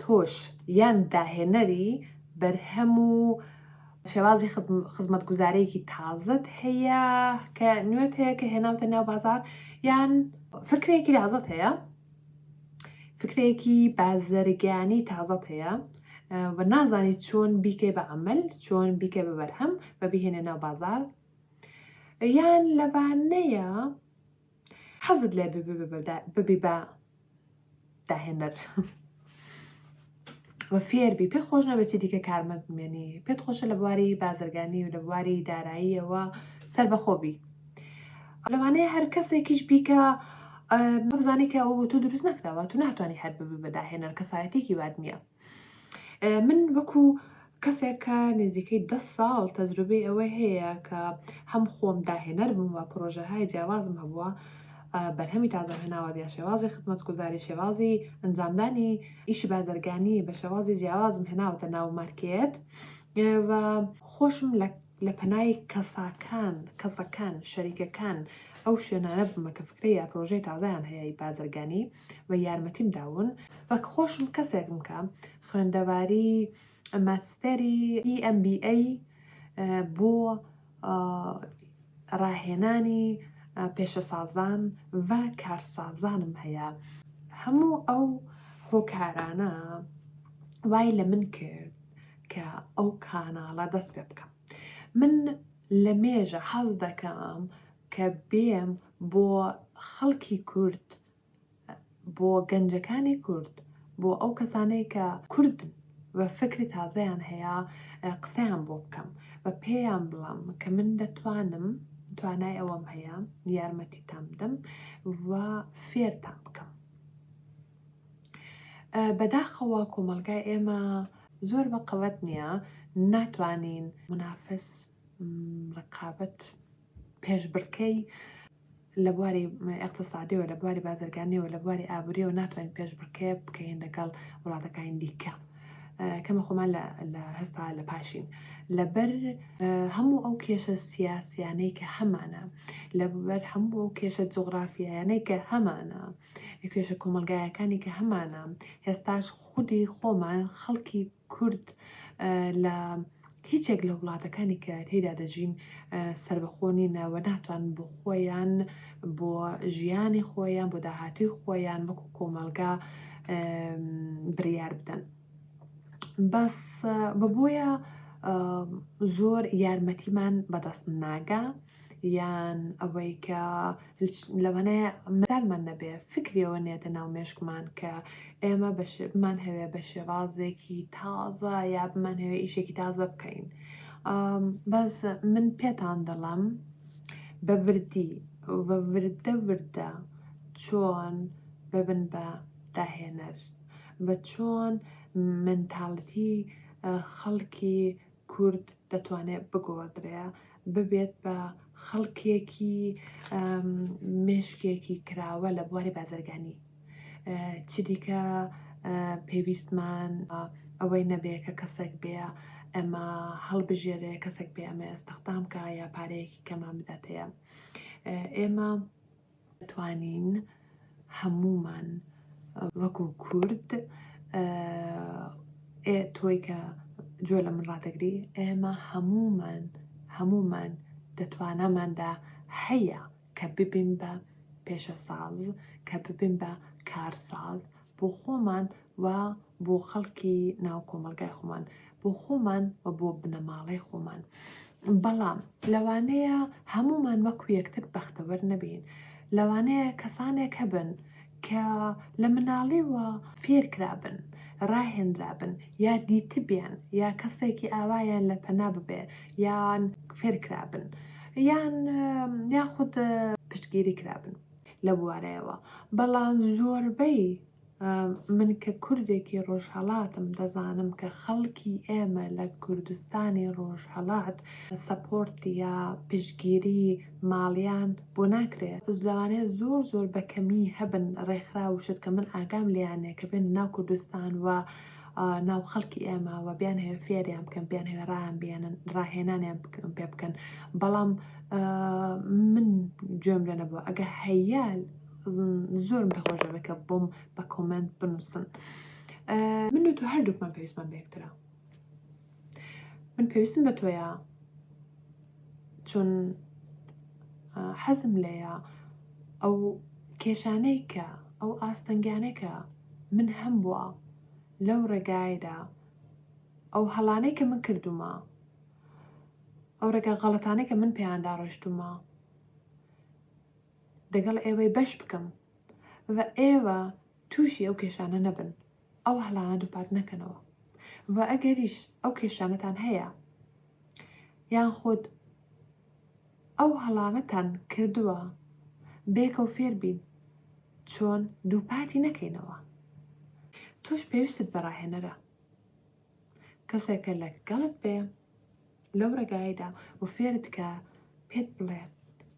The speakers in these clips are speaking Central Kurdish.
تۆش یان داهێنەری بەرهەم و شێوازی خزمەتگوزارەیەکی تازەت هەیە کە نوێت هەیە کە هێناوتە ناو بازار یان فکرێکی تازەت هەیە فکرێکی بازرگانی تازەت هەیە و نازانی چۆن بیکەی بە عمل چۆن بیکە بە بەرهەم بە بهێنە ناو بازار یان لەوانەیە حەزت لێ ببی بە داهێنەر و فێربی پێت خۆش نەبێت چی دیکە کارمەند بمێنی پێت خۆشە لە بواری بازرگانی و لە بواری داراییەوە سەر بەخۆبی لەوانەیە هەر کەسێکیش بیکە بزانانی کە ئەوە بۆ تۆ دروست نەکراوە تو ناتوانانی هەر ببی بە داهێنەر کەسایەتێکی وات نییە من وەکو کەسێک کە نزیکەی دە ساڵ تەجروبەی ئەوەی هەیە کە هەم خۆم داهێنەر بووم و پرۆژەهای جیاوازم هەبووە بەرهەمی تازەم هێناوە دیا شێوازی خدمەت گوزاری شێوازی ئەنجامدانی ئیشی بازرگانی بە شێوازی جیاوازم هێناوەتە ناو مارکێت و خۆشم لە لە پەنای کەساکان کەسەکان شەریکەکان ئەو شوێنانە بمە کە فکرە یا پرۆژەی تازایان هەیە بازرگانی و یارمەتیم داون. وەک خۆشم کەسێکم کە خوێندەواری ماتستێری EMBA بۆ ڕاهێنانی پێشەسازان و کارسازانم هەیە هەموو ئەو هۆکارانە وای لە من کرد کە ئەو کاناڵە دەست پێ بکەم من لە مێژە حەز دەکەم کە بێم بۆ خەڵکی کورد بۆ گەنجەکانی کورد بۆ ئەو کەسانەی کە کوردن و فکری تازەیان هەیە قسەیان بۆ بکەم بە پێیان بڵام کە من دەتوانم توانای ئەوەم هەیە یارمەتیتان بدەم و فێرتان بکەم بەداخەوە کۆمەلگای ئێمە زۆر بە قەوەت نییە ناتوانین منافس ڕقابەت پێشبڕکێی لە بواری ئیقتسادیەوە، لە بواری بازرگانیەوە، لە بواری ئابوریەوە ناتوانین پێشبڕکێ بکەین لەگەڵ وڵاتەکانی دیکە. کەمە خۆمان لە هەستا لە پاشین لەبەر هەموو ئەو کێشە سیاسیانەی کە هەمانە لەبەر هەموو ئەو کێشە جغرافیایانەی کە هەمانە کێشە کۆمەلگایەکانی کە هەمانە هێستاش خودی خۆمان خەڵکی کورد لە هیچێک لە وڵاتەکانی کە تێیدا دەژین سەربەخۆ نینە و ناتوان بۆ خۆیان بۆ ژیانی خۆیان بۆ داهاتوی خۆیان وەکو کۆمەلگا بریار بدەن بەس بە بۆیە زۆر یارمەتیمان بەدەست ناگا یان ئەوەی کە لەوانەیە مەدالمان نەبێ فکرەوە نێتە ناو مێشکمان کە ئێمە بەشێبمان هەوێ بە شێوازێکی تازە یا بمان هەوێ ئیشێکی تازە بکەین بەس من پێتان دەڵم بە وردی بە وردە وردە چۆن ببن بە داهێنەر بە چۆن منتاڵتی خەڵکی کورد دەتوانێ بگۆڕدرێ ببێت بە خەڵکێکی مێشکێکی کراوە لە بواری بازرگانی چ دیکە پێویستمان ئەوەی نەبێ کە کەسێک بێ ئەمە هەڵبژێرێ کەسێک بێ ئەمە ئێستەخدام کا یا پارەیەکی کەمان بداتەیە ئێمە دەتوانین هەموومان وەکو کورد ئێ تۆی کە جۆ لە من ڕاتەگری ئێمە هەموومان هەموومان دەتواناماندا هەیە کە ببین بە پێشەساز کە ببین بە کارساز بۆ خۆمان و بۆ خەڵکی ناو کۆمەڵگای خۆمان بۆ خۆمان و بۆ بنەماڵەی خۆمان بەڵام لەوانەیە هەمومان وەکو یەکتر بەختەوەر نەبین لەوانەیە کەسانێک هەبن کە لە مناڵیوە فێرکرابن ڕاهێنرابن یا دیتبیان یا کەسێکی ئاوایان لە پەنا ببێ یان فێرکرابن یان یاخود پشتگیری کرابن لەبوارەیەوە بەڵام زۆربەی من کە کوردێکی ڕۆژهەڵاتم دەزانم کە خەڵکی ئێمە لە کوردستانی ڕۆژهەڵات سەپۆرت یا پشگیری ماڵیان بۆ ناکرێت لەوانەیە زۆر زۆر بەکەمی هەبن ڕێکخرا وشت کە من ئاگام لیانێ کە بێن ناو کوردستان و ناو خەڵکی ئێمە و بیان هەوێ فێریان بکەن بیان هەوێ ڕایان بێنن ڕاهێنانیان پێ بکەن بەڵام من گوێم لێ نەبووە ئەگە هەیە زۆرم دەخۆش دەبێت کە بۆم بە کۆمنت بنووسن من و تۆ هەردووکمان پێویستمان بەکترا من پێویستم بە تۆیە چون حەزم لەیە ئەو کێشانەی کە ئەو ئاستەنگانێکە من هەمبوە لەو ڕێگایەدا ئەو هەڵانەی کە من کردومە ئەو ڕێگا غەڵەتانەی کە من پێیاندا ڕۆشتومە دەگەڵ ئێوەی بەش بکەم و ئێوە تووشی ئەو کێشانە نەبن ئەو هەڵانە دووپات نەکەنەوە و ئەگەریش ئەو کێشانەتان هەیە یان خۆت ئەو هەڵانەتان کردووە بێکەو فێر بین چۆن دووپاتی نەکەینەوە تۆش پێویستت بە ڕاهێنەرە کەسێکە لە گەڵت بێ لەو ڕێگایدا و فێرت کە پێت بڵێ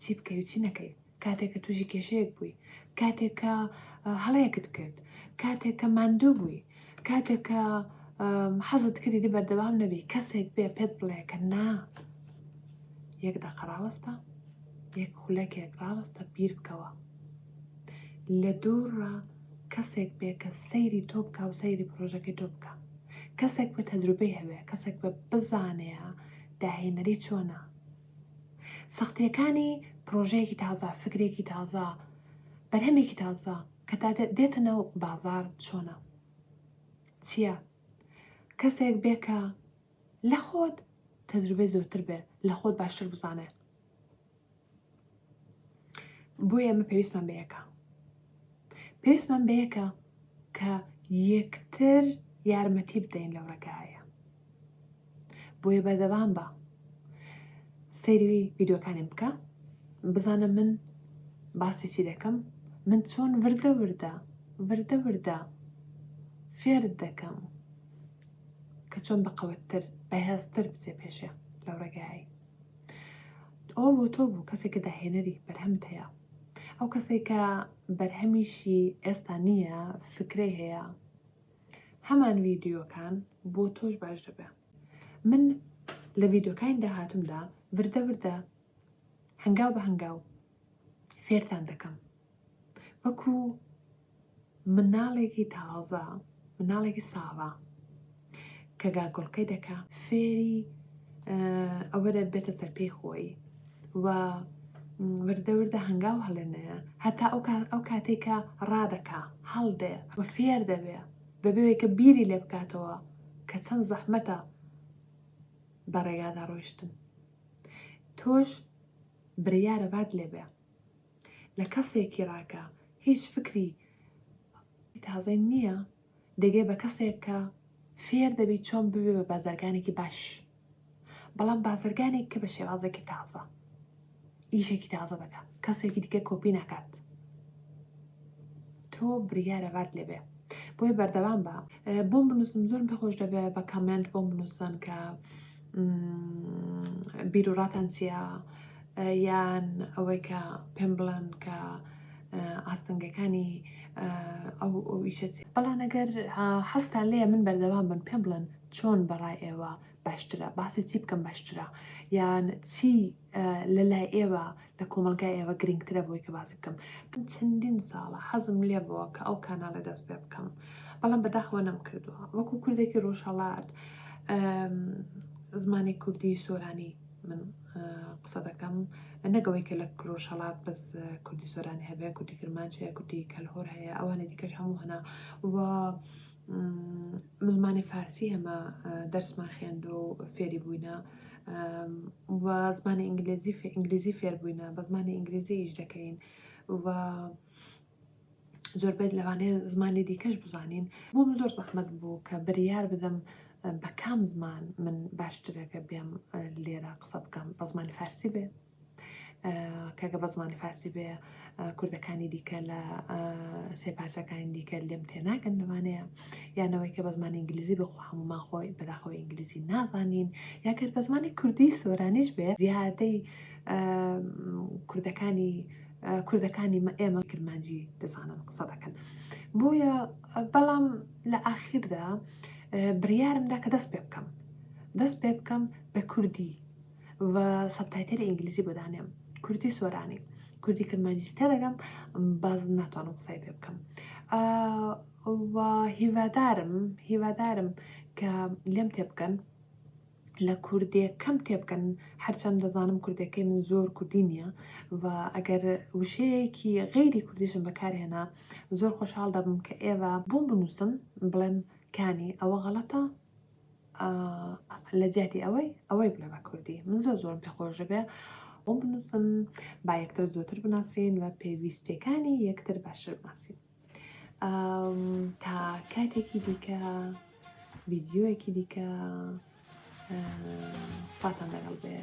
چی بکەی و چی نەکەی کاتێک کە تووشی کێشەیەک بووی، کاتێک کە هەڵەیەکت کرد، کاتێک کە ماندوو بووی، کاتێک کە حەزت کردی دی بەردەوام نەبی کەسێک بێ پێت بڵێ کە نا یەک دەقە ڕاوەستە یەک خولەکێک ڕاوەستە بیر بکەوە لە دووڕە کەسێک بێ کە سەیری تۆ بکە و سەیری پرۆژەکەی تۆ بکە کەسێک بە تەجروبەی هەوێ کەسێک بە بزانەیە داهێنەری چۆنە سەختییەکانی پرۆژەیەکی تازە، فکرێکی تازە، بەرهەمێکی تازە کە تا دێتە ناو بازار چۆنە؟ چییە؟ کەسێک بێ کە لە خۆت تەجروبەی زۆرتر بێ، لە خۆت باشتر بزانێ. بۆیە ئێمە پێویستمان بە یەکە پێویستمان بە یەکە کە یەکتر یارمەتی بدەین لەو ڕێگایە بۆیە بەردەوام بە سەیری ویددیوەکانیم بکە بزانە من باسی چی دەکەم من چۆن وردە وردە وردە وردە فێر دەکەم کە چۆن بەقەوەتتر بەهێزتر بچێ پێشێ لەو ڕێگایی ئەوە بۆ تۆ بوو کەسێک کە داهێنەری بەرهەمت هەیە ئەو کەسێک کە بەرهەمیشی ئێستا نییە فکرەی هەیە هەمان ویددیوەکان بۆ تۆش باش دەبێ من لە ویددیوکانی داهاتمدا وردە وردە هەنگاو بە هەنگاو فێرتان دەکەم وەکو مناڵێکی تازە مناڵێکی ساوا کە گاگۆڵکەی دەکا فێری ئەوە دەبێتە سەر پێی خۆی و وردەوردە هەنگاو هەڵێنەیە هەتا ئەو کاتێکە ڕادەکا هەڵدێ و فێر دەبێ بەبێوێکە بیری لێ بکاتەوە کە چەند زەحمەتە بە ڕێگادا ڕۆیشتن تۆش بریارە بات لێ بێ لە کەسێکی ڕا کە هیچ فکری تازەی نییە دەگەی بە کەسێک کە فێر دەبی چۆن ببێ بە بازرگانێکی باش بەڵام بازرگانێک کە بە شێوازێکی تازە ئیشێکی تازە دەکات کەسێکی دیکە کۆپی ناکات تۆ بریارە بات لێ بێ بۆی بەردەوام بە بۆم بنووسم زۆر پێخۆش دەبێ بە کامنت بۆم بنووسن کە بیروڕاتان چییە یان ئەوەی کە پێم بڵێن کە ئاستەنگەکانی ئەو ئەویشە بەڵام ئەگەر حەستان لێ من بەردەوام بن پێم بڵێن چۆن بەڕای ئێوە باشترە باسی چی بکەم باشترە یان چی لە لای ئێوە لە کۆمەڵگای ئێوە گرنگترە بۆی کە باسی بکەم من چەندین ساڵە حەزم لێ بووە کە ئەو کانالە دەست پێ بکەم بەڵام بەداخەوە نەم کردووە وەکو کوردێکی ڕۆژهەڵات زمانی کوردی سۆرانی من قسە دەکەم نەگەوەی کە لە کرۆشەڵات بەس کوردی سۆرانی هەبێ کوردی کرمانچەیە کوردی کەلهۆر هەیە ئەوانی دیکەش هەموو هەنا و من زمانی فارسی هەمە دەرسمان خوێندوە و فێری بووینە و زمانی ئینگلیزی ئینگلیزی فێر بووینە بە زمانی ئینگلیزی ئیش دەکەین و زۆربەت لەوانەیە زمانی دیکەش بزانین بۆم زۆر زەحمت بوو کە بریار بدەم بە کام زمان من باشترەکە بێم لێرە قسە بکەم بە زمانی فارسی بێ کاکە بە زمانی فارسی بێ کوردەکانی دیکە لە سێ پارچەکانی دیکە لێم تێناگەن لەوانەیە یانەوەی کە بە زمانی ئینگلیزی بخۆ هەمومان خۆی بەداخەوە ئینگلیزی نازانین یاکر بە زمانی کوردی سۆرانیش بێ زیادەی کوردەکانی کوردەکانی ئێمە کرمانجی دەزانن قسە دەکەن بۆیە بەڵام لە ئاخیردا بڕیارمدا کە دەست پێ بکەم دەست پێ بکەم بە کوردی و سەبتایتەلی ئینگلیزی بۆ دانێم کوردی سۆرانی کوردی کرمانجی تێدەگەم باز ناتوانم قسەی پێ بکەم هیوادارم هیوادارم کە لێم تێ بکەن لە کوردێ کەم تێ بکەن هەرچەند دەزانم کوردەکەی من زۆر کوردی نییە و ئەگەر وشەیەکی غیری کوردیشم بەکارهێنا زۆر خۆشحاڵ دەبم کە ئێوە بۆم بنووسن بڵێن کانی ئەوە غەڵەتە ئاا لە جیاتی ئەوەی ئەوەی بڵێ بە کوردی من زۆر زۆرم پێ خۆش دەبێ ئەو بنووسن با یەکتر زۆتر بناسین و پێویستیەکانی یەکتر باشتر بناسین تا کاتێکی دیکە ویددیوەکی دیکە خواتان لەگەڵ بێ.